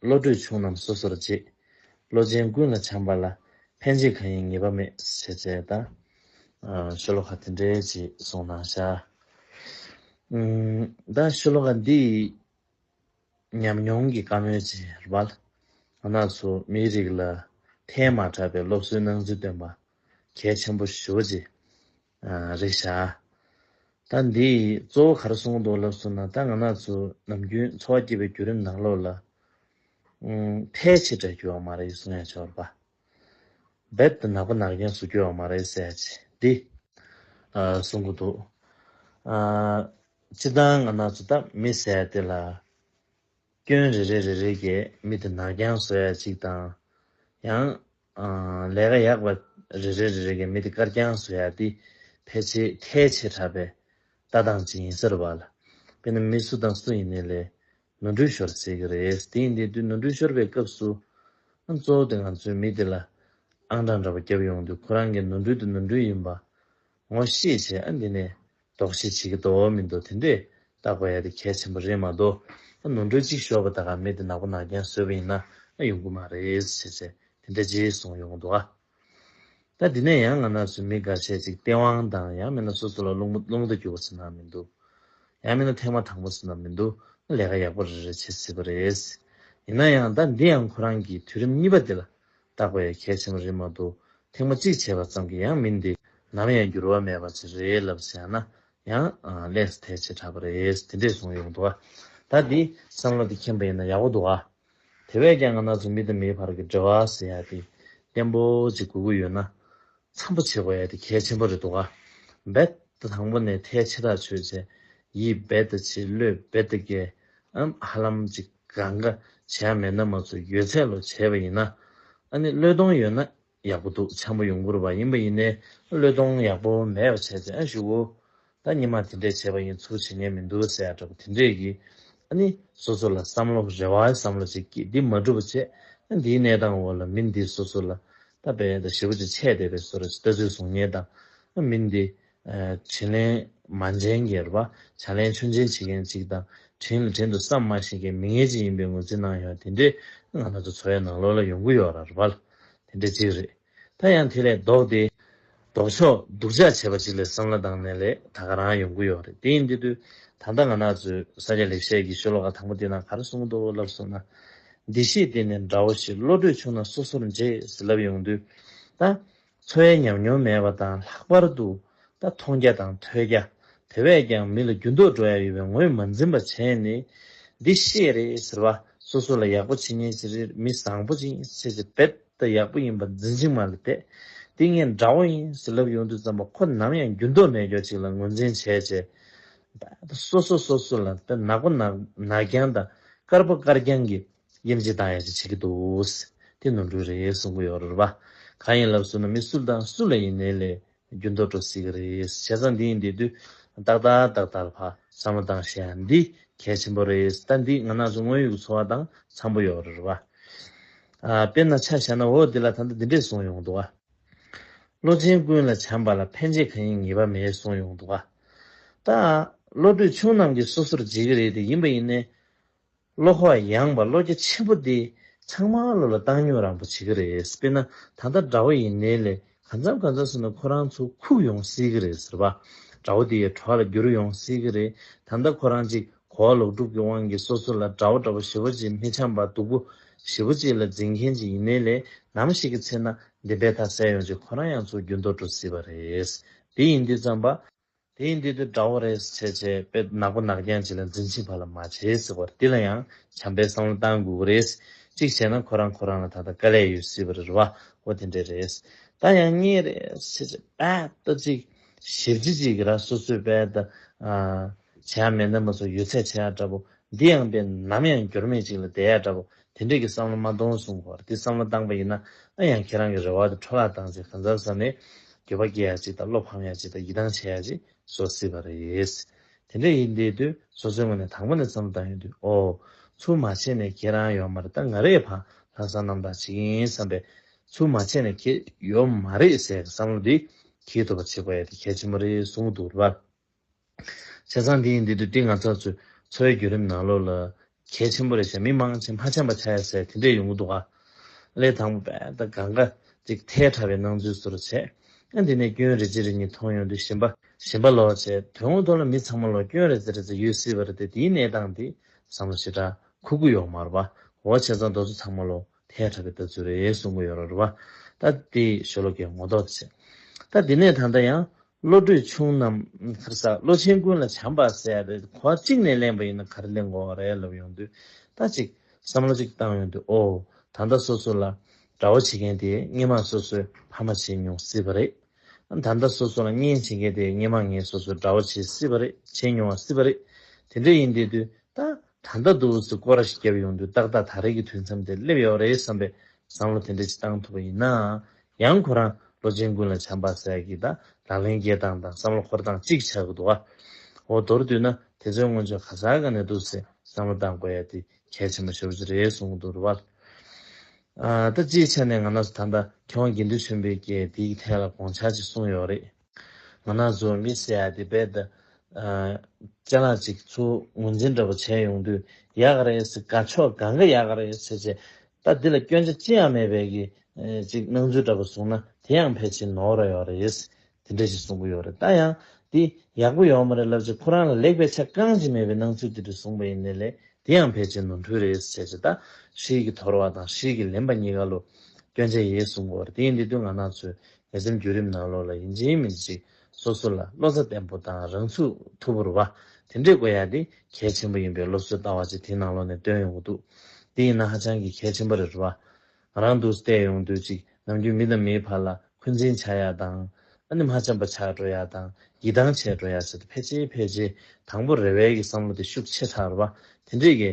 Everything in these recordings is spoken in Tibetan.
བློ་གྲོས་ཆུང་རྣམས་སོ་སོར་འབྱེད། བློ་ཅན་ཀུན་ལ་བྱམས་པ་ལ། ཕན་བྱེད་གང་ཡིན་ངེས་པ་མེད། ཞེས་བྱས་ལྟར། ཤོ་ལོ་ཀ་དེ་འདྲའི་ཅིག་གསུངས་གནང་བཞག། ད་ཤོ་ལོ་ཀ་འདི་ཡིས། ཉམས་མྱོང་གི་བཀའ་མོལ་ཅིག་སྦལ། ན་ཚོ་མིའི་རིགས་ལ། ཐལ་མ་དྲགས་པའི་སློབ་གསོའི་སྣང་ཚུལ་སྟོན་པ། གལ་ཆེན་པོ་ཞུ་བ་ཅིག། རེད་ཤག། ད་འདི་ཡིས་གཙོ་བོ་གར་སོང་འདུག་ལབ་སོང་ན་ད་ང་ནག་ཚོ་ནམ་རྒྱུན་འཚོ་བ་སྐྱེལ་བའི་བརྒྱུད་རིམ་ནག་ལོག་ལ། ཕལ་ཆེར་དགྲ་གྱུར་བ་མ་རེད་གསུང་ཡ་ཆོག་ར་པ། རྦད་དེ་ནག་པ་ནག་རྒྱང་ཟུག་གྱུར་བ་མ་རེད་ཟེར་ཡ་ཆེ་འདི། གསུང་གི་འདུག། སྤྱི་དང་ང་ནག་ཚོ་ད་མི་ཟེར་ཡ་དེ་ལ། སྐྱོན་རེ་རེ་རེ་རེ་གྱིས་མི་དེ་ནག་རྒྱང་བཟོ་ཡ་གཅིག་དང། ཡང། ལས་ཀ་ཡག་པ་རེ་རེ་རེ་རེ་གི་མི་དེ་དཀར་རྐྱང་བཟོ་ཡག་འདི་ཕལ་ཆེ་ཁལ་ཆེ་གྲགས་པའི་ལྟ་སྟངས་ཅིག་ཡིན་སར་བ་ལ་དཔེ་ན་མི་སུ་དང་སུ་ཡིན་ནི་ལས་ནོར་འཁྲུལ་ཤོར་ཟེར་གི་རེད་དེ་ཡིན་དེ་དུས་ནོར་འཁྲུལ་ཤོར་པའི་སྐབས་སུ་གཙོ་བོ་དེ་ང་ཚོའི་མི་དེ་ལ་ཨང་གྲངས་འདྲ་པོ་རྒྱབ་ཡོང་དུས་ཁོ་རང་གི་ནོར་འཁྲུལ་དེ་ནོར་འཁྲུལ་ཡིན་པ་ངོ་ཤེས་བྱས་ཨ་འདི་ནས་ལྡོག་ཤེས་བྱེད་ཀྱི་དོ་མི་འདུག་དེ་འདྲས་བཏགས་པ་ཡ་དེ་གལ་ཆེན་པོ་རེད་མ་གཏོགས་ཨ་ནུ་འགྲོ་གཅིག་ཞོགས་པ་ད་ག་མེད་དེ་ནག་པོ་ནག་རྐྱང་བཟོས་པ་ཡིན་ན་ཨ་ཡོང་གི་མ་རེད་བྱས་ཚད་དེ་འདྲ་རྗེས་བཟུང་ཡོང་གི་འདུག་ཨ། ད་འདི་ནས་ཡང་ང་ནག་ཚོས་མི་འགའ་ཤས་ཅིག་སྟེས་དབང་དང་ཡང་མིན་ན་སོ་སོ་ལ་བླུག་མ་བླུག་མདའ་རྒྱུག་པ་ཟེར་ནའང་མི་འདུག་ཡང་མིན་ན་ཐེངས་མ་དང་པོ་ཟེར་ནའང་མི་འདུག་ཨ་ལས་ཀ་ཡག་པོ་རེ་རེ་བྱེད་སྲིད་པ་རེད། ཡིན་ན་ཡང་ད་འདི་ཡང་ཁོ་རང་གིས་དུས་རིམ་གཉིས་པ་འདི་ལ་བརྟག་པའི་གལ་ཆེན་པོ་རེད་མ་གཏོགས་ཐེངས་མ་གཅིག་བྱས་པ་ཙམ་གྱིས་ཡང་མིན་ཏེ། ནམ་ཡང་འགྱུར་བ་མེད་པ་ཅིག་རེད་ལབ་བྱས་ན་ཡང་ལེགས་དེ་བྱེ་བྲག་པ་རེད་དེ་འདྲས་གསུངས་ཡོང་འདུག་ད་འདི་བསམ་བློ་དེ་མཁྱེན་པ་ཡིན་ན་ཡག་པོ་འདུག་ཨ། དེ་བས་ཀྱང་ང་ནག་ཚོ་མི་དང་མིའི་བར་གྱི་འབྲེལ་བ་ཟེར་ཡ་དེ་བརྟན་པོ་ཅིག་དགོས་ཀྱི་ཡོད་ན། འཚམ་པོ་བྱེད་དགོས་ཡ་དེ་གལ་ཆེན་པོ་རེད་འདུག་ཨ། རྦད་དེ་དང་པོ་ནས་མཐའི་ཕྱི་ཐག་ཆོད་བྱས། ཡིད་རྦད་དེ་ཆེ་བློས་རྦད་དེ་རྒྱས། ཧ་ལམ་ཅིག། གང་ག་བྱས་མེད་ན་མ་ཚོ་ཡོད་ཚད་ལོ་བྱས་པ་ཡིན་ན་ཨ་ནི་བློས་གཏོང་ཡོད་ན་ཡག་པོ་འདུག་འཆམ་པོ་ཡོང་འགོར་བ་ཡིན་པ་ཡིན་ནའི་བློས་གཏོང་ཡག་པོ་མེད་པ་བྱས་ཚེ་ཨ་ཞུ་འོ་ད་ཉི་མ་དེ་འདྲས་བྱས་པ་ཡིན་ཚུལ་བྱེད་ཉན་མི་འདུག་ཟེར་ཡག་འདྲ་པོ་དེ་འདྲས་ཀྱིས་ཨ་ནི་སོ་སོ་ལ་བསམ་བློ་རེ་བའི་བསམ་བློ་བྱེད་ཀྱིས་འདི་མ་སྒྲུབ་པ་བྱས་ན་འདིའི་གནས་སྟངས་འོག་ལ་མི་འདི་སོ་སོ་ལ་ད་བལ་དང་ཞི་བ་ཅིག་ཆད་བསྡད་པའི་སོ་ར་ཅིག་ལྟ་ཚུལ་བཟུང་ཉན་དང་ཨ་མི་འདི་དྲིན་ལན་མ་འཇལ་མཁན་པ། བྱ་ལན་ཆུ་འཇལ་བྱེད་མཁན་གཅིག་དང། དྲིན་ལ་དྲིན་དུ་བསམ་མ་ཤེས་མཁན་མི་ངན་གཅིག་ཡིན་པའི་ངོས་འཛིན་གནང་ཡོང་དེ་འདྲའི་ང་ལ་ཚོ་འཚོ་བའི་ནང་ལོགས་ལ་ཡོང་གི་ཡོད་ར་བ་ལ། དེ་འདྲ་གཅིག་རེད། ད་ཡང་དེ་ལས་ལྡོག་སྟེ། ལྡོག་ཕྱོགས་སྡུག་ཅག་བྱས་པ་ཅིག་ལས་བསམ་བླ་དང་ནས་ལས་ད་ག་རང་ཡོང་གི་ཡོད་རེད་དེ་ཡིན་དེ་དུས་ད་ལྟ་ང་ནག་ཚོས་ས་སྐྱ་ལེགས་བཤད་ཀྱི་ཤོ་ལོ་ཀ་དང་པོ་དེ་ནང་ག་རེ་གསུང་འདུག་ལབ་སོང་ན། འདི་ཤེས་དེ་ནས་འདྲ་བོ་ཞིག་བློ་གྲོས་ཆུང་ན་སོ་སོར་འཇལ་ཟེར་ལབ་ཡོང་དུས། ད། འཚོ་བའི་ཉམས་མྱོང་མེད་པ་དང་ལྷག་པར་དུ་རྟ་མཐོང་རྒྱ་དང་ཐོས་རྒྱ་དེ་བས་ཀྱང་མི་ལ་རྒྱུ་འདོགས་འགྲོ་ཡ་ཡོད་པའི་ངོས་མ་འཛིན་པ་བྱས་ནས་འདི་ཤེས་རེད་ཟེར་བ་སོ་སོ་ལ་ཡག་པོ་བྱེད་ཉན་བྱེད་རེད་མི་བཟང་པོ་ཅིག་བྱེད་བྱེད་བེད་ད་ཡག་པོ་ཡིན་པ་འཛིན་ཅིག་མ་ལ་དད་འདི་ངས་འདྲ་བོ་ཡིན་ཟེར་ལབ་ཡོང་དུས་ཙམ་པ་ཁོ་ནམ་ཡང་རྒྱུ་འདོགས་མེད་ཀྱོག་ཅིག་ལ་ངོས་འཛིན་བྱས་བྱས་བེད་ད་སོ་སོ་སོ་སོ་ལ་དད་ནག་པ་ནག་ནག་རྐྱང་དང་དཀར་པ་དཀར་རྐྱང་གིས་དབྱེ་འབྱེད་དང་ཡང་ཅི་བྱེད་ཀྱི་འདུག། དེ་ནོར་འཁྲུལ་རེད་གསུང་གི་ཡོད་རེད་པ། གང་ཡིན་ལབ་སྲོལ་ན་མི་སུ་དང་སུ་ལ་ཡིན་ནའི་ལས་རྒྱུ་འདོར་འགྲོ་སྲིད་ཀྱི་རེད་བྱས་ཙང་འདི་ཡིན་འདི་དུས་ཏག་ཏག་ཏག་ཏག་ལ་བསམ་བློ་བཏང་ཤེས་ཡ་འདི་གལ་ཆེན་པོ་རེད་ད་འདི་ང་ནག་ཆུ་དངོས་ཡོད་ཀྱི་འཚོ་བ་དང་འཚམ་པོ་ཡོད་རེད་པ། དཔེར་ན་ཆ་བཞག་ན་འོ་འདི་ལ་ད་ལྟ་འདི་འདྲས་གསུང་ཡོང་འདུག་ཨ། བློ་ཆེན་ཀུན་ལ་བྱམས་པ་ལ་ཕན་ཆེ་གང་ཡིན་ངེས་པ་མེད་གསུང་ཡོང་འདུག་ཨ། ད། བློ་གྲོས་ཆུང་རྣམས་ཀྱིས་སོ་སོར་འབྱེད་ཀྱི་རེད་དེ་ཡིན་པ་ཡིན་ནའི། བློ་ཁོག་ཡངས་པ་བློ་རྒྱ་ཆེན་པོ་འདི་ཚང་མ་བློ་ལ་བཏང་ཉོག་རང་པོ་བྱེད་ཀྱི་རེད་དཔེར་ན་ད་ལྟ་དགྲ་བོ་ཡིན་ནའི་ལས་གང་འཚམ་གང་འཚམ་བཟོས་ན་ཁོ་རང་ཚོ་ཁུག་ཡོང་སྲིད་ཀྱི་རེད་ཟེར་བ། དགྲ་བོ་དེའི་གྲོགས་ལ་བསྒྱུར་ཡོང་སྲིད་ཀྱི་རེད་ད་ལྟ་ཁོ་རང་ཅིག་གོ་བ་ལོག་སྒྲུབ་ཀྱི་དབང་གིས་སོ་སོ་ལ་དགྲ་བོ་དགྲ་བོ་ཞེ་བོ་ཅིག་མི་འཆམ་པ་སྡུག་པོ་ཞེ་བོ་ཅིག་ལ་འཛིན་མཁན་ཅིག་ཡིན་ནའི་ལས་ནམ་ཞིག་གི་ཚེ་ན་འདི་འབད་ཐག་ཟད་ཡོང་རྗེས་ཁོ་རང་ཡང་ཚོ་རྒྱུན་དོར་འགྲོ་སྲིད་པ་རེད། འདི་ཡིན་འདི་བརྩམས་པ། དེ་ཡིན་དུས་དེ་འདྲ་བོ་རེད་ཟེར་བྱས་བྱས་དཔེ་ནག་པོ་ནག་རྐྱང་བྱས་ལ་འཛིན་ཆེན་བར་ལ་མ་བྱས་ཟེར་བར་དེ་ལ་ཡང་བྱམས་པའི་བསམ་བློ་གཏང་དགོས་ཀྱི་རེད། གཅིག་བྱས་ན་ཁོ་རང་ཁོ་རང་ལ་ད་ལྟ་དཀའ་ལས་ཡོད་སྲིད་པ་རེད་རེད་བ་ཧོ་དེ་འདྲས་རེད། ད་ཡང་རྙེད་རེད་ཟེར་བྱས་བྱས་དཔལ་ལྟ་ཅིག་ཞིབ་ཅིག་ཅིག་གི་ར་སོ་སོའི་དཔལ་ལྟ། བྱས་ཡ་མེད་ནམ་མ་ཚོ་ཡོད་ཚད་བྱས་ཡ་འདྲ་བོ་འདི་ཡང་དཔེ་ནམ་ཡང་འགྱུར་མེད་ཅིག་ལ་བསྡད་ཡ་འདྲ་བོ་དེ་འདྲས་ཀྱི་བསམ་བློ་མ་གཏོང་གསུངས་པར་དེ་བསམ་བློ་བཏང་པ་ཡིན་ན་ཨ་ཡང་ཁྱེད་རང་གི་རེ་བ་དེ་འཕྲོ་བརླག་བཏང་ཚེ་གང་ཟབ་ས་ནས་འགྱོད་པ་སྐྱེ་ཡག་ཅིག་དང་བློ་ཕམ་ཡག་ཅིག་དང་ཡིད་ཐང་ཆད་ཡག་ཅིག་བཟོ་སྲིད་པ་རེད། དེ་འདྲས་ཡིན་དེས་དུས་སོ་སོའི་ངོས་ནས་དང་པོ་ནས་བསམ་བློ་བཏང་ཡོང་དུས་ཨོ། ཚུར་མ་བྱས་ནས་ཁྱེད་རང་ཡོད་མ་རེད་ད་ང་རེ་ཕང་ལྷག་བཟང་རྣམ་དག་བྱེད་ཀྱི་ཡིན་བསམ་པས། ཚུར་མ་བྱས་ནས་ཁྱེད་ཡོད་མ་རེད་ཟེར་བསམ་བློ་དེ་གྱིས་ཐུབ་པ་བྱེད་དགོས་ཡ་དེ་གལ་ཆེན་པོ་རེད་གསུངས་འདུག་རབ། བྱས་ཙང་དེའི་འདི་དུ་ཏི་ང་ཚ་ཚོའི་འཚོ་བའི་བརྒྱུད་རིམ་ནང་ལོ་ལ་གལ་ཆེན་པོ་རེད་བྱས་མི་མང་ཆེ་མ་ཆེན་པ་ཆ་ཡ་ཟས་དེ་འདྲས་ཡོང་གི་འདུག་ཨ། ལས་དང་པོ་བས་ད་ག་འགའ་ཅིག་ཐལ་ཁྲ་བའི་སྣང་ཚུལ་ཟུར་བྱས། ཨ་འདི་ནས་སྐྱོན་རེ་རྗེ་རེ་གཉིས་མཐོང་ཡོང་དུས་ཞིམ་པ་ཞིམ་པ་ལོག་བྱས་དོན་ངོ་ཐོག་ལ་མི་ཚང་མ་ལོག་སྐྱོན་རེ་རྗེ་རེ་རྗེ་ཡོད་སྲིད་པ་རེད་དེ་དེའི་གནས་སྟངས་འདི་བསམ་བློ་ཞེ་དྲག་ཁུག་གི་ཡོག་མར་བ་འོ་བྱས་ཙང་རྡོ་ཚོ་ཚང་མ་ལོག་ཐལ་དྲགས་པའི་ལྟ་ཚུལ་རེ་གསུངས་མོ་ཡོད་ར་རུ་བ་ད་ལྟའི་ཞོ་ལོ་ཀའི་ངོ་ལྡོག་ད་བྱེད། ད་འདི་ནས་ད་ལྟ་ཡང་བློ་གྲོས་ཆུང་རྣམས་ཁར་སག་བློ་ཆེན་ཀུན་ལ་བྱམས་པ་བསལ་ཏེ་གོ་བ་གཅིག་ནས་གླེང་བ་ཡིན་ན་ག་རེ་གླེང་དགོས་བ་རེད་ལབ་ཡོང་དུས་ད་ཅིག་བསམ་བློ་ཅིག་བཏང་ཡོང་དུས་ཨོ་ད་ལྟ་སོ་སོ་ལ་དགྲ་བོ་བྱེད་མཁན་དེ་སྙེ་མ་སོ་སོས་ཕ་མ་བྱེད་མྱོང་སྲིད་པ་རེད། ད་ལྟ་སོ་སོ་ལ་གཉེན་བྱེད་མཁན་དེ་སྙེ་མ་ངས་སོ་སོས་དགྲ་བོ་བྱེད་སྲིད་པ་རེད་བྱེད་མྱོང་བ་སྲིད་པ་རེད། དེ་འདྲ་ཡིན་བསྡད་དུས་ད་ད་ལྟ་དུ་བོ་ཚོས་སྐོར་ར་ཞིག་བརྒྱབ་ཡོང་དུས་ཏག་ཏག་ད་རེས་ཀྱི་དུས་མཚམས་དེར་སླེབས་ཡོད་པ་རེད་བསམ་པའི་བསམ་བློ་དེ་འདྲ་ཞིག་བཏང་ཐུབ་པ་ཡིན་ནའང། ཡང་ཁོ་རང་ལོ་ཆེན་ཀུན་ལ་བྱམས་པ་ཟེར་ཡ་གི་ད་ལག་ལེན་རྒྱས་སྟངས་དང་བསམ་བློ་འཁོར་སྟངས་གཅིག་ཆགས་ཀྱི་འདུག་ཨ། འོ་མདོར་བསྡུས་ན་དེ་ཚོའི་སྔོན་ཆོས་ག་ཟག་ག་ནས་འདུག་ཟེར་བསམ་བློ་བཏང་དགོས་ཡ་དེ་གལ་ཆེན་པོ་ཤོར་རྒྱུ་རེད་གསུང་གི་འདུག་རུ་བ། ད་སྤྱིའི་ཆ་ནས་ང་ནགས་སུ་ད་ལྟ་མཁས་དབང་དགེ་འདུན་ཆོས་འཕེལ་སྐྱེས་དེའི་ཐད་ལ་དགོངས་འཆར་ཅིག་གསུང་ཡོད་རེད། ང་ནག་ཟོར་མི་སེ་ཡ་དེ་བས་ད། སྤྱན་ལག་ཅིག་ཚུར་ངོས་འཛིན་འདྲ་པོ་བྱས་ཡོང་དུས་ཡག་ག་རེད་ཟེར་ག་ཆོ་ག་འགའ་ཡག་ག་རེད་ཟེར་བྱས། ད་འདི་ལ་སྐྱོན་ཆ་ཅི་ཡང་མེད་བས་ཀྱི། ཅིག་སྣང་ཚུལ་འདྲ་པོ་བཟུང་ན་དེ་ཡང་ཕལ་ཆེར་ནོར་ར་ཡོད་རེད། དེ་འདྲ་ཞིག་གསུང་གི་ཡོད་རེད་ད་ཡང། འདི་ཡག་པོ་ཡོད་མ་རེད་ལབ་ཅིག་ཁོ་རང་ལ་ལེགས་པའི་ཆ་རྐང་ཅིག་མེད་པའི་སྣང་ཚུལ་དེ་འདྲ་བཟུང་པ་ཡིན་ནི་ལེ་དེ་ཡང་ཕལ་ཆེར་ནོར་འཁྲུལ་རེད་ཟེར་བྱས། ད་ཧྲིལ་གྱིས་དོར་བ་དང་ཧྲིལ་གྱིས་ལེན་པ་གཉིས་ཀ་ལོ། སྐྱོན་ཆ་ཡེ་ཟུང་གོ་རེད་དེ་འདི་དུས་ང་ནག་ཚོས་ལྷག་བསམ་བརྒྱུད་རིམ་ནང་ལོགས་ལ་ཡིན་ཅིང་མིན་ཅིང་སོ་སོ་ལ་བློ་རྩ་བརྟན་པོ་དང་རང་ཚུགས་ཐུབ་པོར་བ་དེ་འདྲས་དགོས་ཡ་དེ་གལ་ཆེན་པོ་ཡིན་པའི་སློབ་གསོའི་ལྟ་བ་ཅིག་དེ་ནང་ལོགས་ནས་བཏོན་ཡོང་གི་འདུག་དེ་ཡིན་ན་ཧ་ཅང་གི་གལ་ཆེན་པོ་རེད་བ། ང་རང་འདུག་བལྟས་ཡོང་དུས་གཅིག་ནམ་རྒྱུན་མི་དང་མིའི་བར་ལ་འཁོན་འཛིན་བྱ་ཡ་དང། ཨ་ནི་མ་བྱམས་པ་ཆགས་འགྲོ་ཡ་དང་ཡིད་ཐང་ཆད་འགྲོ་ཡ་བྱེད་དུ་ཕལ་ཆེ་ཕལ་ཆེ་དང་པོ་རེ་བལ་གི་བསམ་བློ་དེ་ཤུགས་ཆེ་ཕྲར་བ་དེ་འདྲས་ཀྱི་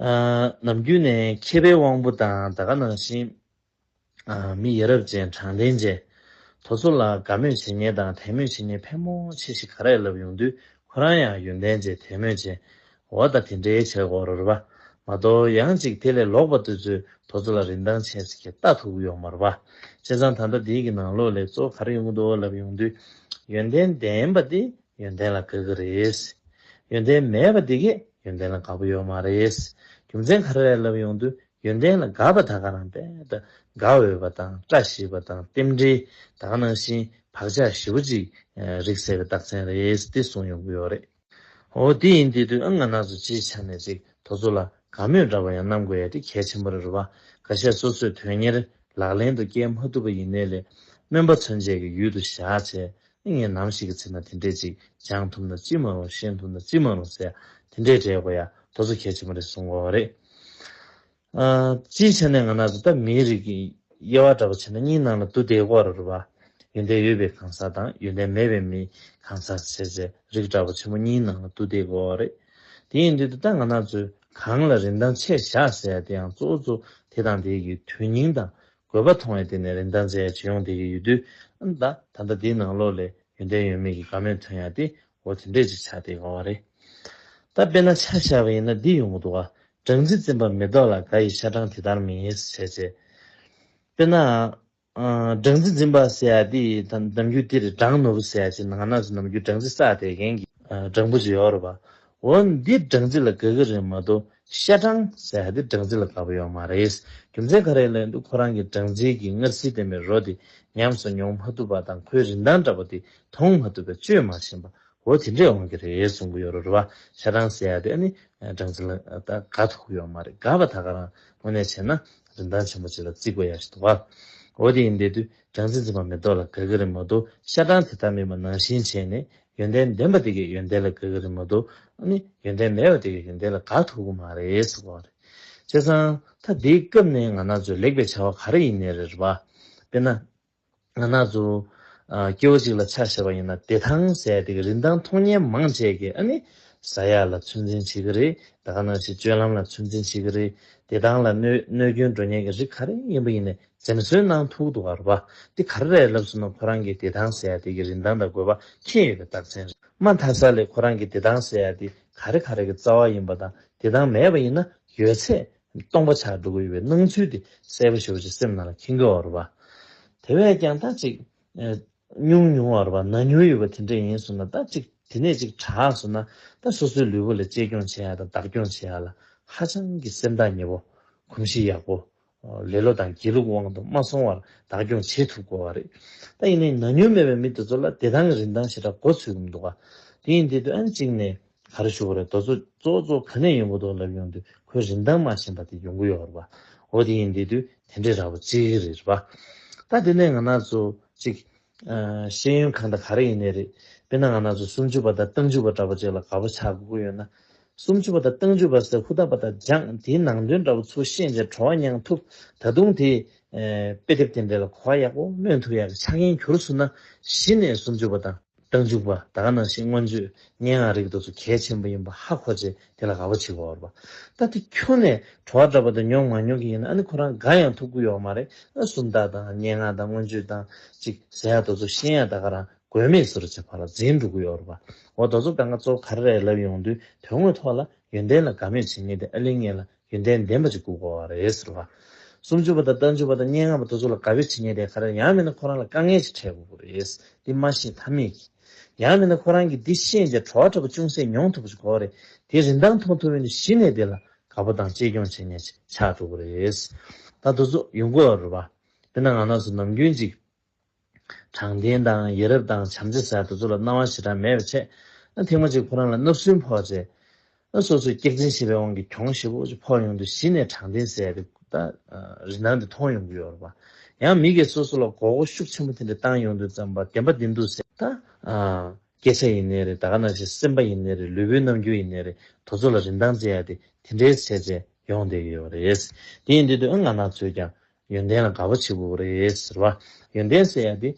ནམ་རྒྱུན་ནས་མཁས་པའི་དབང་པོ་དང་ད་ག་ནང་བཞིན། མི་ཡ་རབས་ཅན་དྲང་བདེན་ཅན། དོ་ཚོ་ལ་དགའ་མོས་བྱེད་ཉེན་དང་དད་མོས་བྱེད་ཉེན་ཕལ་མོ་ཆེ་ཞིག་ག་རེ་ལབ་ཡོང་དུས་ཁོ་རང་ཡང་ཡོན་ཏན་ཅན་དད་མོས་ཅན། འོ་ད་དེ་འདྲའི་བྱེད་སྒོ་རོལ་བ། མ་གཏོགས་ཡང་ཅིག་དེ་ལས་ལོག་པ་ལྟོས་ཚོས་དོ་ཚོ་ལ་རིན་ཐང་ཆེ་ཟེར་གྱི་ལྟ་ཐུབ་ཡོག་མ་རོ། བྱས་ཙང་ད་ལྟ་དེའི་གི་ནང་ལོག་ལེགས་ཚོ་ག་རེ་ཡོང་གི་འདུག་ལབ་ཡོང་དུས། ཡོན་ཏན་ལྡན་པ་དེ་ཡོན་ཏན་ལ་དགའ་གི་རེད། ཡོན་ཏན་མེད་པ་དེ་གས་ཡོན་ཏན་ལ་དགའ་པོ་ཡོད་མ་རེད། རྒྱུ་མཚན་ག་རེ་རེད་ལབ་ཡོང་དུས་ཡོན་ཏན་ལ་དགའ་བ་དག་ག་རང་དཔལ་དགའ་འོས་པ་དང་བཀྲ་ཤིས་པ་དང་རྟེན་འབྲེལ་དག་ནང་བཞིན་བག་ཆགས་ཞེ་བོ་ཅིག་རིག་སད་པའི་རྟགས་མཚན་རེད་དེ་གསུང་ཡོང་གི་ཡོད་རེད། ཨོ་དེ་ཡིན་དེ་དུས་ཨ་ང་ནག་ཚོ་སྤྱིའི་ཆ་ནས་ཅིག་དོ་ཚོ་ལ་དགའ་མོས་འདྲ་བ་ཡང་གནང་དགོས་ཡ་དེ་གལ་ཆེན་པོ་རེད་རུ་བ་ག་ཤ་སོ་སོས་དོན་གཉེར་ལག་ལེན་དུ་བསྐྱལ་མ་ཐུབ་པ་ཡིན་ནའི་ལས་སྨོན་པ་ཚོན་བཅས་ཀྱི་ཡུལ་དུ་བཞག་བྱས་ཨེ་ངས་ནམ་ཞིག་གི་ཚེ་ན་དེ་འདྲས་ཅིག་སྦྱང་ཐུབ་ན་ཅི་མ་རུང་ཤེས་ཐུབ་ན་ཅི་མ་རུང་ཟེར་དེ་འདྲས་དྲས་དགོས་ཡ་དོ་ཚོ་གལ་ཆེན་པོ་རེད་གསུངས་བ་རེད། སྤྱིའི་ཆ་ནས་ང་ན་ཟུག་དང་མིའི་རིགས་ཀྱི་དབྱེ་བ་འདྲ་པོ་བྱས་ན་གཉིས་སྣང་ལ་དུ་དེའི་སྐོར་ར་བ། ཡོན་ཏན་ཡོད་པའི་གང་ཟག་དང་ཡོན་ཏན་མེད་པའི་མི་གང་ཟག་བྱས་ཚེ་རིགས་འདྲ་པོ་ཆེན་པོ་གཉིས་སྣང་ལ་དུ་དེའི་སྐོར་བ་རེད། དེའི་མདུན་དུ་ད་ང་ན་ཚོས་གང་ལ་རིན་ཐང་ཆེ་བཞག་ཟེར་ཡ་དེའང་གཙོ་བོ་གཙོ་དེ་དང་དེའི་དུས་སྙིང་དང་དགོས་པ་མཐོང་བས་དེ་ནས་རིན་ཐང་ཚད་ཡར་ཇེ་ཡོང་བསྡད་ཀྱི་ཡོད་དུས། ཨ་མདའ། ད་ལྟ་འདིའི་ནང་ལོགས་ལས་ཡོན་ཏན་ཡོད་མེད་ཀྱི་དགའ་མོས་ཐོན་ཡག་དེ་འོ་དེ་འདྲས་ཅིག་ཆགས་ཏེ་དགའ་བ་རེད། ད་དཔེ་ན་ཆ་བཞག་པ་ཡིན་ན་འདི་ཡོང་གི་འདུག་ཨ། སྦྲང་རྩི་འཛིན་པ་མེ་ཏོག་ལ་དགའ་ཡི་ཤ་སྦྲང་དེ་ལྟར་མིན་ཧེ་སི་བྱས་བྱས། དཔེར་ན། སྦྲང་རྩི་འཛིན་པ་ཟེར་ཡག་དེ་ནམ་རྒྱུན་དེ་རེད་སྦྲང་ནོར་བུ་ཟེར་ཡག་ཅིག་ནང་ན་ནམ་རྒྱུན་སྦྲང་རྩི་བསགས་བསྡད་མཁན་གྱི། སྦྲང་བུ་ཅིག་ཡོད་རེད་པ། འོ་འདི་སྦྲང་རྩི་ལ་དགའ་གི་རེད་མ་གཏོགས་ཤ་སྦྲང། ཟེར་ཧ་དེ་སྦྲང་རྩི་ལ་དགའ་པོ་ཡོད་མ་རེད། རྒྱུ་མཚན་ག་རེ་ལས་འདུག་ཁོ་རང་གིས་སྦྲང་རྩི་གི་མངར་ཟིལ་ལྡན་པའི་རོ་དེ་ཉམས་སུ་མྱོང་མ་ཐུབ་པ་དང་ཁོའི་རིན་ཐང་འདྲ་པོ་དེ་མཐོང་མ་ཐུབ་པས་བཅོས་མ་ཞེན་པ་འོ་དེ་འདྲས་འོང་གི་རེད་གསུང་གི་ཡོད་རོ་རེད་བ། ཤ་སྦྲང་ཟེར་ཧ་དེ་ཨ་ནི་སྦྲང་རྩི་ལ་དགའ་ཐུག་ཡོད་མ་རེད་དགའ་བ་ད་ག་རང་དངོས་གནས་བྱས་ན་རིན་ཐང་ཆེན་པོ་ཅིག་ལ་བརྩི་དགོས་ཡག་ཞིག་འདུག་བ། འོ་དེ་ཡིན་དེ་དུས་སྦྲང་རྩི་འཛིན་པ་མེ་ཏོག་ལ་དགའ་གི་རེད་མ་གཏོགས་ཤ་སྦྲང་དེ་ལྟ་མིན་པ་ནང་བཞིན་བྱས་ནས་ཡོན་ཏན་ལྡན་པ་དེ་གའི་ཡོན་ཏན་ལ་དགའ་གི་རེད་མ་གཏོགས་ཨ་ནི་ཡོན་ཏན་མེད་པ་དེ་གའི་ཡོན་ཏན་ལ་དགའ་ཐུབ་གི་མ་རེད་ཟེར་བ་རེད། བྱས་ཙང་ད་འདིའི་སྐབས་ནས་ང་ན་ཚོས་ལེགས་པའི་བྱ་བ་ག་རེ་ཡིན་ནི་རེད་བ། དཔེར་ན། ང་ན་ཚོ། སྐྱེ་བོ་ཅིག་ལ་ཕྱག་བཞེས་པ་ཡིན་ན་བདེ་ཐང་ཟས་དེ་གའི་རིན་ཐང་མཐོང་ཉེན་མང་བྱས་ཀྱི་ཨ་ནི། བཟའ་ཡག་ལ་ཚོད་འཛིན་བྱེད་ཀྱི་རེད་ད་ག་ནང་བཞིན་སྤྱོད་ལམ་ལ་ཚོད་འཛིན་བྱེད་ཀྱི་རེད་བདེ་ཐང་ལ་གནོད་སྐྱོན་འགྲོ་ཉེན་གྱི་རིགས་ག་རེ་ཡིན་པ་ཡིན་ནི་ཟེར་ནས་སོའི་ནང་ཐུག་འདུག་ག་རུ་པ་འདི་ག་རེ་རེད་ལབ་ཟིན་ནོ་ཁོ་རང་གི་བདེ་ཐང་ཟེར་ཡ་དེ་གི་རིན་ཐང་དང་དགོས་པ་མཁྱེན་ཡོད་པའི་རྟགས་མཚན་རེད་མ་མཐའ་ས་ལས་ཁོ་རང་གི་བདེ་ཐང་ཟེར་ཡ་དེ་ག་རེ་ག་རེ་གི་རྩ་བ་ཡིན་པ་དང་བདེ་ཐང་མེད་པ་ཡིན་ན་ཡོད་ཚད་སྟོང་པ་ཆགས་འགྲོ་གི་ཡོད་པའི་སྣང་ཚུལ་དེ་གསལ་པོ་ཞིག་བ་ཅིག་སེམས་ནང་ལ་ཁེན་དགོས་བ་རུ་པ། དེ་བས་ཀྱང་ད་ཅིག་ཉུང་ཉུང་བ་རུ་པ་ན་ཉུང་ཡོད་པ་དེ་འདྲ་ཡིན་ཟུར་ན་ད་ཅིག་དེ་ནས་ཅིག་གྲགས་ཟུར་ན་ད་སོ་སོའི་ལུས་པོ་ལ་གཅེས་སྐྱོང་བྱེད་ཡ་དང་བདག་སྐྱོང་བྱེད་ཡ་ལ་ཧ་ཅང་གི་སེམས་ཐག་ཉེ་བོ་གོམས་གཤིས་ཡག་པོ་ལེ་ལོ་དང་སྒྱིད་ལུག་དབང་དུ་མ་སོང་བར་བདག་སྐྱོང་བྱེད་ཐུབ་དགོས་བ་རེད། ད་ཡིན་ནའི་ན་ཉུལ་མེད་པའི་མི་དེ་ཚོ་ལ་བདེ་ཐང་གི་རིན་ཐང་ཞེ་དྲག་མགོ་ཚུད་གི་མི་འདུག་ག་དེ་ཡིན་དེ་དུས་ཨན་གཅིག་ནས་ག་རེ་ཞུ་བ་རེད་རྡོ་ཚོ་གཙོ་གཙོ་ག་ནས་ཡོང་གི་འདུག་ལབ་ཡོང་དུས་ཁོའི་རིན་ཐང་མ་ཞེན་པ་དེ་ཡོང་གི་ཡོད་རེད་བ་འོ་དེ་ཡིན་དེ་དུས་དེ་འདྲའི་ར་བ་གཅིག་རེད་བ་ད་དེ་ནས་ང་ན་ཚོ་གཅིག་ཤེས་ཡོན་གང་དང་ག་རེ་ཡིན་ནི་རེད། དཔེར་ན་ང་ན་ཚོ་སུམ་ཅུ་པ་དང་སྟོང་ཅུ་པ་འདྲ་པོ་ཅིག་ལ་དགའ་པོ་ཆགས་དགོས་ཡོད་ན། སུམ་ཅུ་པ་དང་སྟོང་ཅུ་པ་ཟེར་ཧུ་ད་པ་དང་སྦྱངས་དེའི་ནང་དོན་འདྲ་པོ་ཚུར་ཤེས་རྗེས་བྲོ་བ་མྱངས་ཐུབ། ད་དུང་དེས། དཔེ་དེབ་དེ་འདྲའི་ལ་གོ་བ་ཡག་པོ་སྨོས་ཐུབ་ཡག་གི་ཆ་རྐྱེན་གྱུར་སོང་ན་གཞི་ནས་སུམ་ཅུ་པ་དང་སྟོང་ཅུ་པ་དག་ནང་བཞིན་མངོན་བརྗོད་སྙན་ངག་རིག་འདུག་ཚོ་གལ་ཆེན་པོ་ཡིན་པ་ཧ་གོ་བྱེད། དེ་ལ་དགའ་བོ་བྱེད་དགོས་བར་པ། ད་དེ་ཁྱོད་ནས་བྲོ་བ་འདྲ་པོ་དེ་མྱོང་མ་མྱོང་གི་ཡིན་ན་ཨ་ནི་ཁོ་རང་དགའ་ཡང་ཐུགས་ཁུར་ཡོག་མ་རེད་ཨ་སུམ་རྟགས་དང་སྙན་ངག་དང་མངོན་བརྗོད་དང་ཅིག་ཟེར་ཡག་རྡོ་ཚོ་ཤེས་ཡག་ད་ག་རང་དགོས་མེད་ཟེར་རོ་བྱས་ཕར་ལ་འཛིན་འགྲོ་གི་ཡོག་རེད་པ་འོ་རྡོ་ཚོ་ག་འགའ་ཚོ་ག་རེ་རེད་ལབ་ཡོང་དུས་དོན་དངོས་ཐོག་ལ་ཡོན་ཏན་ལ་དགའ་མོས་བྱེད་ངེས་དེ་ཨ་ལིང་ངེས་ལ་ཡོན་ཏན་ལྡན་པ་གཅིག་སྐུ་བསྐོ་བ་རེད་ཟེར་བ། སུམ་ཅུ་པ་དང་རྟ་ཅུ་པ་དང་སྙན་ངག་པ་དེ་ཚོ་ལ་དགའ་བས་བྱེད་ཉེས་དེ་ག་རེ་ཡང་མིན་ན་ཁོ་རང་ལ་དཀའ་ངལ་ཞིག་འཕྲད་དགོས་པོ་རེད། འདི་སྨྲ་ཤེས་ཐབས་མེད་ཀྱི། ཡང་མིན་ན་ཁོ་རང་གིས་འདི་ཤེས་མཇལ་བྲོ་བ་བྲོ་བ་ཅུང་ཟད་མྱོང་ཐུབ་པ་ཞིག་གོ་བ་རེད་དེ་རིན་ཐང་མཐོང་ཐུབ་ཡོན་དུ་གཞི་ནས་དེ་ལ་དགའ་པོ་དང་གཅེས་སྐྱོང་བྱེད་ཉེས་ཆགས་འགྲོ་དགོས་རེད། ད་དུ་ཚོ་ཡོང་དགོས་བ་རུ་བ། དེ་ན་ང་ནགས་སུ་ནམ་རྒྱུན་ཅིག། དྲང་བདེན་དང་ཡིད་རབ་དང་བྱམས་བརྩེ་ཟེར་དེ་ཚོ་ལ་སྣང་བ་ཞེ་དྲག་མེད་པའི་ཆེད། ཐེངས་མ་གཅིག་ཁོ་རང་ལ་སྣབས་སུན་ཕོག་རྗེས། སོ་སོས་སྐྱག་རྫིང་བྱས་པའི་དབང་གིས་གྱོང་ཞེ་བོ་ཅིག་ཕོག་ཡོང་དུས་གཞི་ནས་དྲང་བདེན་ཟེར་དེ་ད་རི་སྣང་དེ་མཐོང་ཡོང་གི་ཡོད་རེད་པ། ཡང་མི་སྒེར་སོ་སོ་ལ་མགོ་སྐོར་ཤུགས་ཆེན་པོ་དེ་འདྲ་བཏང་ཡོང་དུས་བརྩམས་པ་བདེན་པ་འདི་འདུག་ཟེར། ད་སྐད་ཆ་ཡིན་ནི་རེད་ད་ག་ནང་བཞིན་སེམས་པ་ཡིན་ནི་རེད་ལུས་པོའི་རྣམ་འགྱུར་ཡིན་ནི་རེད་དོ་ཚོ་ལ་རིན་ཐང་བརྩི་ཡ་དེ་དེ་འདྲའི་བྱས་རྗེས་ཡོང་བསྡད་ཀྱི་ཡོད་རེད། དེ་ཡིན་དུས་དུས་ཨ་ང་ནག་ཚོས་ཀྱང་ཡོན་ཏན་ལ་དགའ་བ་བྱེད་དགོས་པ་རེད་ཟེར་བ། ཡོན་ཏན་བསལ་ཡག་འདི་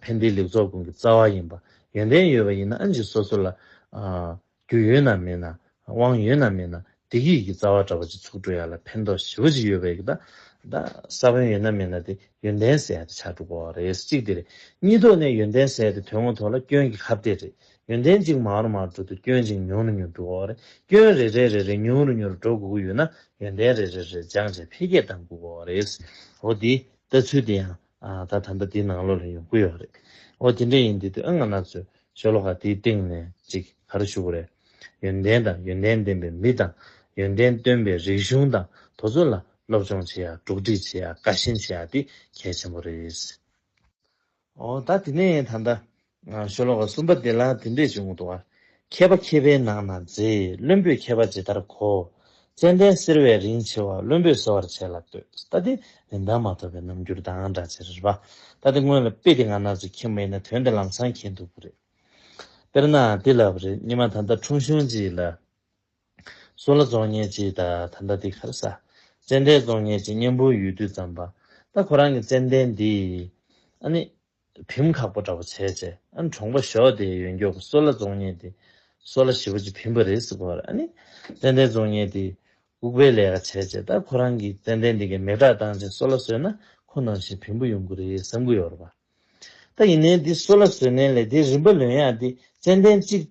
ཕན་བདེའི་ལེགས་ཚོགས་ཀུན་གྱི་རྩ་བ་ཡིན་པ། ཡོན་ཏན་ཡོད་པ་ཡིན་ན་ཨ་མཆིས་སོ་སོ་ལ། རྒྱུ་ཡོད་ན་མེད་ན། དབང་ཡོད་ན་མེད་ན་སྡིག་ཡིད་ཀྱི་རྩ་བ་འདྲ་པོ་ཅིག་ཚུགས་འགྲོ་ཡག་ལ་ཕན་ཐོགས་ཞི་བ་ཅིག་ཡོད་པ་ཡག་གདའ། ས་བོན་ཡོད་ན་མེད་ན་དེ་ཡོན་ཏན་བསལ་ཡག་དེ་ཆགས་འགྲོ་དགོས་བ་རེད་གཅིག་དེ་རེད། གཉིས་ཐོག་ནས་ཡོན་ཏན་བསལ་དེ་དོན་དངོས་ཐོག་ལ་སྐྱོན་གྱི་ཁ་བརྡས་རེད། ཡོན་ཏན་གཅིག་མང་རུ་མང་དྲུག་ཏུ་སྐྱོན་གཅིག་ཉུང་རུ་ཉུང་དྲུག་འོག་རེ་སྐྱོན་རེ་རེ་རེ་རེ་ཉུང་རུ་ཉུང་རུ་འགྲོ་དགོས་ཀྱི་ཡོད་ན་ཡོན་ཏན་རེ་རེ་རེ་སྦྱང་བྱས་འཕེལ་རྒྱས་གཏང་དགོས་འོག་རེད། འོ་དེ་ལྟ་ཚུལ་དེ་ཡང་ད་དམ་པ་དེའི་ནང་ལོགས་ལ་ཡོང་གི་ཡོད་རེད། འོ་དེ་འདྲ་ཡིན་དུས་དུས་ཨ་ང་ནག་ཚོས་ཤོ་ལོ་ཀ་དེའི་སྟེང་ནས་ཅིག་ག་རུ་ཞུགས་རེད། ཡོན་ཏན་དང་ཡོན་ཏན་ལྡན་པའི་མི་དང་ཡོན་ཏན་སྟོན་པའི་རིག་གཞུང་དང་དོ་ཚོ་ལ་སློབ་སྦྱོང་བྱེད་ཡག་གྲོགས་འདྲིས་བྱེད་ཡག་བཀའ་བཞིན་བྱེད་ཡག་དེ་གལ་ཆེན་པོ་རེད། ཨོ་ད་དེ་ནས་ད་ལྟ། ཤོ་ལོ་ཀ་གསུམ་པ་འདི་ལ་འདི་འདྲས་བྱུང་འདུག་ཨ། མཁས་པ་མཁས་པའི་ནང་ན་མཛེས་བློན་པོས་མཁས་པ་ཇི་ལྟར་གོ། ཙནྡན་གསེར་བས་རིན་ཆེ་བ་བློན་པོས་གསོ་བར་བྱས་ལ་ལྟོས་ལྟ་དེ་རིན་ཐང་མ་ཐོབ་པའི་རྣམ་འགྱུར་དང་འདྲ་ཕྱིར་རེད་པ། ད་དེ་སྔོན་ལ་དཔེ་དེ་ང་ན་ཟུག་ཁྱིམ་མེད་ན་དོན་དེ་ལམ་སང་མཁྱེན་འདུག་པ་རེད། དཔེར་ན་དེ་ལབ་རེད་སྙེ་མ་ད་ལྟ་ཁྲུང་ཤོན་ཅིག་ལ། སུ་ལ་རྫོང་ཉེ་ཅིག་ད་ད་འདའ་འདི་གར་ས། ཙན་དན་རྫོང་ཉེ་ཅིག་གཉན་པོའི་ཡུལ་དུས་ཙམ་པ། ད་ཁོ་རང་གི་ཙན་དན་འདི། ཨ་ནི། བིམ་ཁག་པོ་འདྲ་པོ་བྱས་བྱས་ཨ་ནི་གྲོང་པ་ཞོག་དེའི་ཡོན་མགྱོགས་པོ་སོ་ལ་རྫོང་ཉེ་འདི། སོ་ལ་ཞི་བོ་ཅི་བིམ་པ་རེས་སུ་གོར་ཨ་ནི། ཙན་དན་རྫོང་ཉེ་འདི། ཨུག་པའི་ལས་ཀ་བྱས་བྱས་ད་ཁོ་རང་གི་ཙན་དན་འདི་གའི་མེ་བྲག་བཏང་བྱས་སོ་ལ་སོས་ན་ཁོ་ནང་བཞིན་བིམ་པོ་ཡོང་གི་རེད་བསམ་གི་ཡོར་བ། ད་ཡིན་ནའི་འདི་སོ་ལ་སོས་ནའི་ལས་དེ་རིམ་པ་ལོན་ཡག་འདི་ཙན་དན་གཅིག།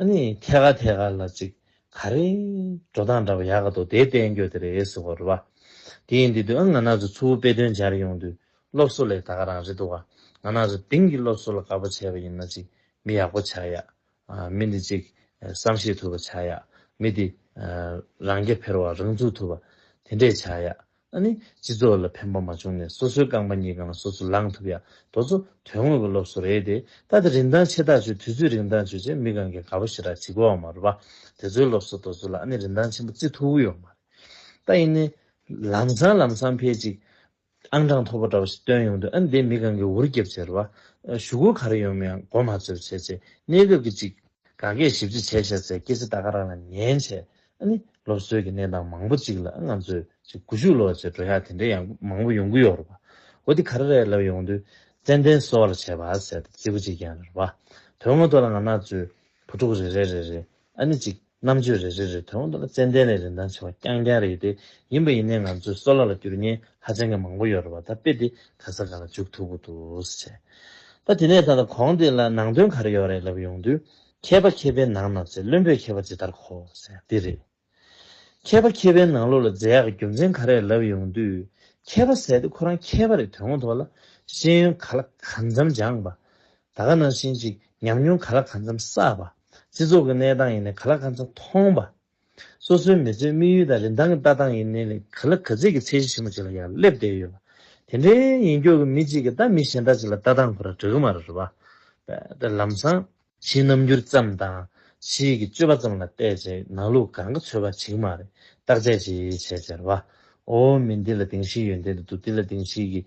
ཨ་ནི་ཐད་ཀར་ཐད་ཀར་ལ་ཅིག་ག་རེ། འགྲོ་སྟངས་འདྲ་བ་ཡག་ག་འདུག་དེ་བསྟན་རྒྱུ་དེ་རེད་ཟེར་བ་རེད་བ། དེ་ཡིན་དུས་དུས་ཨ་ང་ན་ཚོ་ཚུར་དཔེ་སྟོན་སྦྱར་ཡོང་དུས་སློབ་གསོ་ལས་ད་ག་རང་རེད་འདུག་ག་ང་ན་ཚོ་དེང་གི་སློབ་གསོ་ལ་དགའ་པོ་བྱས་པ་ཡིན་ན་ཅིག་མི་ཡག་པོ་ཆགས་ཡག་མི་འདི་ཅིག་བསམ་ཤེས་ཐུབ་པ་ཆགས་ཡག་མི་འདི་རང་རྐྱ་འཕེར་བ་རང་ཚུགས་ཐུབ་པ་དེ་འདྲས་ཆགས་ཡག་ཨ་ནི། སྤྱི་ཚོགས་ལ་ཕན་པ་མ་བྱུང་ནས་སོ་སོའི་རྐང་པ་གཉིས་གང་ལ་སོ་སོ་ལངས་ཐུབ་ཡ་དོ་ཚོ་དོན་དངོས་ཀྱི་སློབ་གསོ་རེད་དེ། ད་ལྟ་རིན་ཐང་ཆེ་ཐག་ཆོད་དུས་ཚོད་རིང་ཐག་ཆོད་ཅེས་མི་གང་གིས་དགའ་བོ་ཞེ་དྲག་བྱེད་དགོས་བ་མ་རེད་པ། དེ་ཚོའི་སློབ་གསོ་དོ་ཚོ་ལ་ཨ་ནི་རིན་ཐང་ཆེན་པོ་བརྩི་ཐུབ་ཀྱི་ཡོད་མ་རེད། ད་ཡིན་ནའི། ལམ་སང་ལམ་སང་ཕལ་ཅིག། ཨང་གྲངས་མཐོ་པོ་འདྲ་བོ་ཞིག་བཏོན་ཡོང་དུས་ཨ་ནི་དེས་མི་གང་གིས་འུར་རྒྱབ་བྱེད་རེད་པ། ཞུ་སྒོ་ག་རེ་ཡོང་མིན་ཡང་མགོ་མ་ཚོས་བྱེད་ཅེས་གནས་སྐབས་ཀྱི་ཅིག། ག་གེས་ཞིབ་རྩིས་བྱས་བྱས་ཚེ་སྐྱེ་ཚེ་ད་ག་རང་ལ་ཉན་བྱས། ཨ་ནི་སློབ་གསོའི་གི་གནས་སྟངས་མང་པོ་གཅིག་ལ་ང་ཚོས་གཅིག་དགུ་བཞུགས་ལོ་ཅེས་འགྲོ་ཡག་དེ་འདྲའི་ཡང་མང་པོ་ཡོང་གི་ཡོད་རེད་པ། འོ་དེ་ག་རེ་རེད་ལབ་ཡོང་དུས་ཙན་དན་གསོ་བར་བྱས་པ་ཟེར་ཏེ་བརྩི་བ་གཅིག་ཀྱང་རེད་པ། དོན་དངོས་ཐོག་ལ་ང་ན་ཚོས་བུ་ཕྲུག་རེ་རེ་རེ་རེ་ཨ་ནི་གཅིག་རྣམ་དཔྱོད་རེ་རེ་རེ་དོན་དངོས་ཐོག་ལ་ཙན་དན་ལས་རིན་ཐང་ཆེ་བ་རྐྱང་རྐྱང་རེད་དེ་ཡིན་པ་ཡིན་ནའི་ང་ཚོས་གསོ་ལ་ལ་སྐྱུར་ཉེན་ཧ་ཅང་གི་མང་པོ་ཡོད་རེད་པ་ད་དཔེ་དེ་ག་ས་ག་ལ་འཇུག་ཐུབ་པོ་འདུག་ཟེར། ད་དེ་ནས་ད་ལྟ་གོང་དེ་ལ་ནང་དོན་ག་རེ་ཡོད་རེད་ལབ་ཡོང་དུས། མཁས་པ་མཁས་པའི་ནང་ན་རྫས་བླུན་པོས་མཁས་པ་ཇི་ལྟར་གོ། འདི་རེད། མཁས་པ་མཁས་པའི་ནང་ལོགས་ལ་རྫས་ཡག་གི་རྒྱུ་མཚན་ག་རེ་ལབ་ཡོང་དུས། མཁས་པ་ཟེར་ཏེ་ཁོ་རང་མཁས་པ་རེད་དོན་ངོ་ཐོག་ལ། ཤེས་ཡོན་ག་ལ་ག་འཚམ་སྦྱངས་པ། ད་ག་ནང་བཞིན་ཅིག་ཉམས་མྱོང་ག་ལ་ག་འཚམ་བསགས་པ། སྤྱི་ཚོགས་ཀྱི་གནས་སྟངས་ཡེ་ནས་ག་ལ་ག་འཚམ་མཐོང་པ། སོ་སོའི་མི་ཚེའི་དམིགས་ཡུལ་དང་རིན་ཐང་གི་ལྟ་སྟངས་ཡིན་ནའི་ག་ལ་ག་ཚད་ཀྱི་ཚད་གཞི་ཆེན་པོ་ཞིག་ལ་ཡང་སླེབས་བསྡད་ཡོད་པ་དེ་འདྲའི་ཡིན་སྐྱོར་གྱི་མི་གཅིག་གིས་ད་མི་གཞན་དག་ཅིག་ལ་ལྟ་སྟངས་ཁོ་ར་འདྲ་གི་མ་རེད་བ། དཔེར་ལམ་སང། ཕྱིའི་རྣམ་འགྱུར་ཙམ་དང། ཕྱིའི་གི་སྤྱོད་པ་ཙམ་ལ་བལྟས་ཚེ་ནང་ལུགས་གང་གི་ཚོད་བ་བྱེད་གི་མ་རེད་བརྟག་དཔྱད་ཅི་བྱས་ཟེར་བ། ཨོ་མི་འདི་ལ་དེང་ཕྱིན་ཡོད་འདི་ལ་འདུག་འདི་ལ་དེང་ཕྱིན་གི།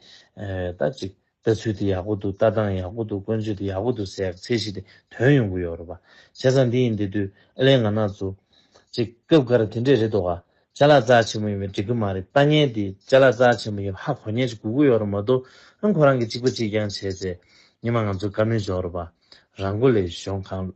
ད་ཅིག། ལྟ་ཚུལ་དེ་ཡག་པོ་འདུག་ལྟ་སྟངས་ཡག་པོ་འདུག་བཀོན་ཚོད་དེ་ཡག་པོ་འདུག་ཟེར་ཡག་ཚེ་གཞི་དེ་དོན་ཡོང་གི་ཡོད་རེད་པ། བྱས་ཙང་འདི་ཡིན་འདི་དུས་ཨ་ལེ་ང་ན་ཟུག། ཅེས་སྐབས་འགར་དེ་འདྲས་རེད་འདོག་ག། ལྕ་ལག་རྩལ་ཆེན་མོ་ཡིན་པས་འགྲིག་གི་མ་རེད་ལྟ་ངན་དེ་ལྕ་ལག་རྩལ་ཆེན་མོ་ཡིན་ཧ་གོ་ཉན་ཅིག་གུ་གུ་ཡོད་རེད་མ་གཏོགས་ཨང་ཁོ་རང་གི་གཅིག་པ་གཅིག་རྐྱང་བྱས་ཚེ་ཉི་མ་ང་ཚོ་དཀའ་མོས་འཇོག་རེད་པ། རང་མགོ་ལས་གཞོང་གང་ལོས།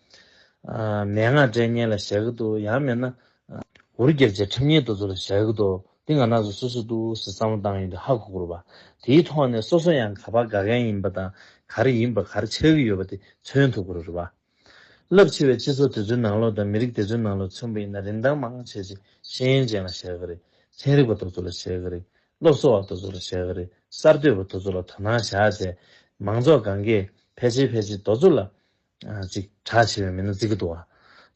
མན་ངག་སྒྲའི་སྙན་ལ་ཞལ་གྱི་དུ། ཡང་མེད་ན། འུར་རྒྱལ་རྗེས་ཁྲིམས་སྙན་དུ་ཚུར་ལ་ཞལ་གྱི་དུ། འདི་ང་ནགས་སུ་སུ་སུ་ཏུ་ཟེར་བསམ་བློ་བཏང་ཡོད་འདུག་ཧ་གོ་གོ་རུ་བ། དེའི་ཐོག་ནས་སོ་སོ་ཡང་ག་པར་དགའ་མཁན་ཡིན་པ་དང་ག་རེ་ཡིན་པ་ག་རེ་ཆགས་ཀྱི་ཡོད་པ་དེ་མཚོན་ཐུབ་གོ་རུ་རུ་བ། རླབས་ཆེ་བའི་སྤྱི་ཚོགས་དེ་ཚོའི་ནང་ལོགས་དང་མི་རིགས་དེ་ཚོའི་ནང་ལོགས་མཚོན་པ་ཡིན་ན་རིན་ཐང་མང་བ་ཆེ་ཆེ་ཤེས་ཡོན་ཅན་ལ་ཞལ་གྱི་རེ། ཚན་རིག་པ་དོ་ཚོ་ལ་ཞལ་གྱི་རེ། སློབ་གསོ་བ་དོ་ཚོ་ལ་ཞལ་གྱི་རེ། གསར་གཏོད་པ་དོ་ཚོ་ལ་དོ་སྣང་བཞག་བྱས། མང་ཚོགས་གང་གས་ཕལ་ཆེར་ཕལ་ཆེར་དོ་ཚོ་ལ། ཅིག་གྲགས་ཆེ་བའི་མི་སྣ་བརྩི་གི་འདུག་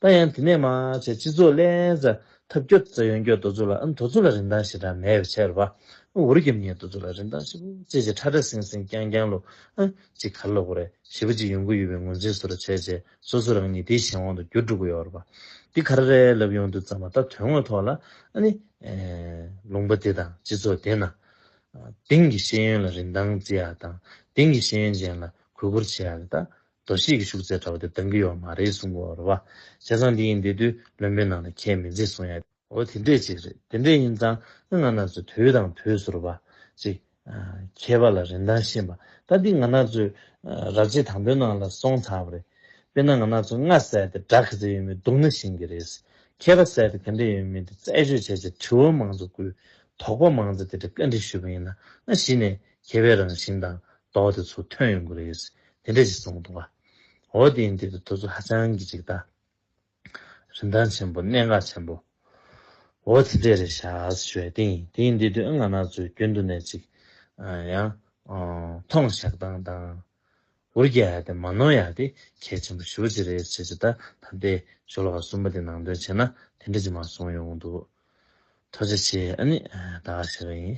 ད་ཡང་དེ་ནས་མ་བྱས་སྤྱི་ཚོགས་བརླན་ས་ཐབས་སྐྱོ་རྩ་ཡོན་སྐྱོ་དོ་ཚུ་ལ་འདོ་ཚུ་ལ་རིན་ཐང་ཞེ་དྲག་མེད་བའི་ཕྱིར་བ་འུར་གྱིམ་ཉེས་དོ་ཚུ་ལ་རིན་ཐང་ཞེ་པོ་ཅེ་ཅེ་ཁྲ་ཁྲ་སིང་སིང་ཀྱང་ཀྱང་ལོ་ཅིག་གར་ལོག་གོ་རེ་ཞེ་པོ་ཅིག་ཡོང་གི་ཡོད་པའི་ངོས་འཛིན་སུ་ར་བྱས་བྱས་སོ་སོ་རང་ཉིད་དེའི་གཞན་དབང་དུ་འགྱུར་འགྲོ་གི་ཡོད་རེད་བ་འདི་ག་ར་རས་ལབ་ཡོང་དུས་ཙམ་མ་ད་དོན་དངོས་ཐོག་ལ་ཨ་ནི་ལུང་པ་དེ་དང་སྤྱི་ཚོགས་དེ་ན་དེང་གི་ཤེས་ཡོན་ལ་རིན་ཐང་བརྩི་ཡག་དང་དེང་གི་ཤེས་ཡོན་ཅན་ལ་གུས་བཀུར་བྱས་ཡག་གི་ད་དོ་ཤེས་ཀྱི་ཤུག་རྩེད་འདྲ་བ་དེ་གདང་གི་ཡོག་མ་རེད་གསུང་གོ་ར་བ་བྱས་ཙང་འདི་ཡིན་འདི་དུས་བློན་པོའི་ནང་ལ་ཁྱད་མི་འཛིན་གསུང་ཡ། འོ་དེ་འདྲས་ཅིག་རེད་དེ་འདྲས་ཡིན་ཙང་ང་ང་ན་ཚོས་དུས་དང་དུས་སུ་ར་བ་ཅིག་མཁས་པ་ལ་རིན་ཐང་ཤེས་མ་ད་འདི་ང་ན་ཚོས་ར་བྱེད་དང་པོའི་ནང་ལ་སོང་ཚར་བ་རེད་དཔེར་ན་ང་ན་ཚོས་ང་བསད་དེ་དགྲ་ག་ཚད་ཡོད་མེད་སྡུག་ན་ཤིན་གི་རེད་མཁས་པ་བསད་དེ་ག་འདྲས་ཡོད་མེད་དེ་རྩད་གཅོད་བྱས་ཆེད་དྲི་བ་མང་ཙོ་བསྐུལ་དོག་པ་མང་ཙོ་དེ་འདྲས་བཀའ་འདྲི་ཞུས་པ་ཡིན་ན་ང་གཞི་ནས་མཁས་པའི་རང་བཞིན་དང་ལྡོག་སྟེ་ཚུར་ཐོན་ཡོང་གི་རེད། དེ་འདྲས་ཤིག་གསུངས་འདུག་བ། འོ་དེ་ཡིན་དེ་འདྲ་དུས་ཚོད་ཧ་ཅང་གི་ཅིག་ལྟ། རིན་ཐང་ཆེན་པོ་གནད་འགག་ཆེན་པོ། འོ་དེ་འདྲས་རེད་ཤག་ཞུས་བས། དེ་ཡིན་དེ་དུས་ང་ན་ཚོས་རྒྱུན་དུ་ནས་ཅིག། ཡང། ཐོང་བཤགས་དང་དང། འུར་རྒྱག་ཡག་དེ་མ་ནོར་ཡག་དེ་གལ་ཆེན་པོ་ཞུ་བ་ཅིག་རེད་བྱས་ཅི་ད་ད་ལྟའི་ཞོ་ལོ་ཀ་གསུམ་པ་དེ་ནང་དོན་བྱས་ན་དེ་འདྲས་ཅིག་མ་གསུངས་ཡོང་གི་འདུག། ཐོས་བྱ་ཆེ་ཨ་ནི་ད་ཞེས་པ་ཡིན།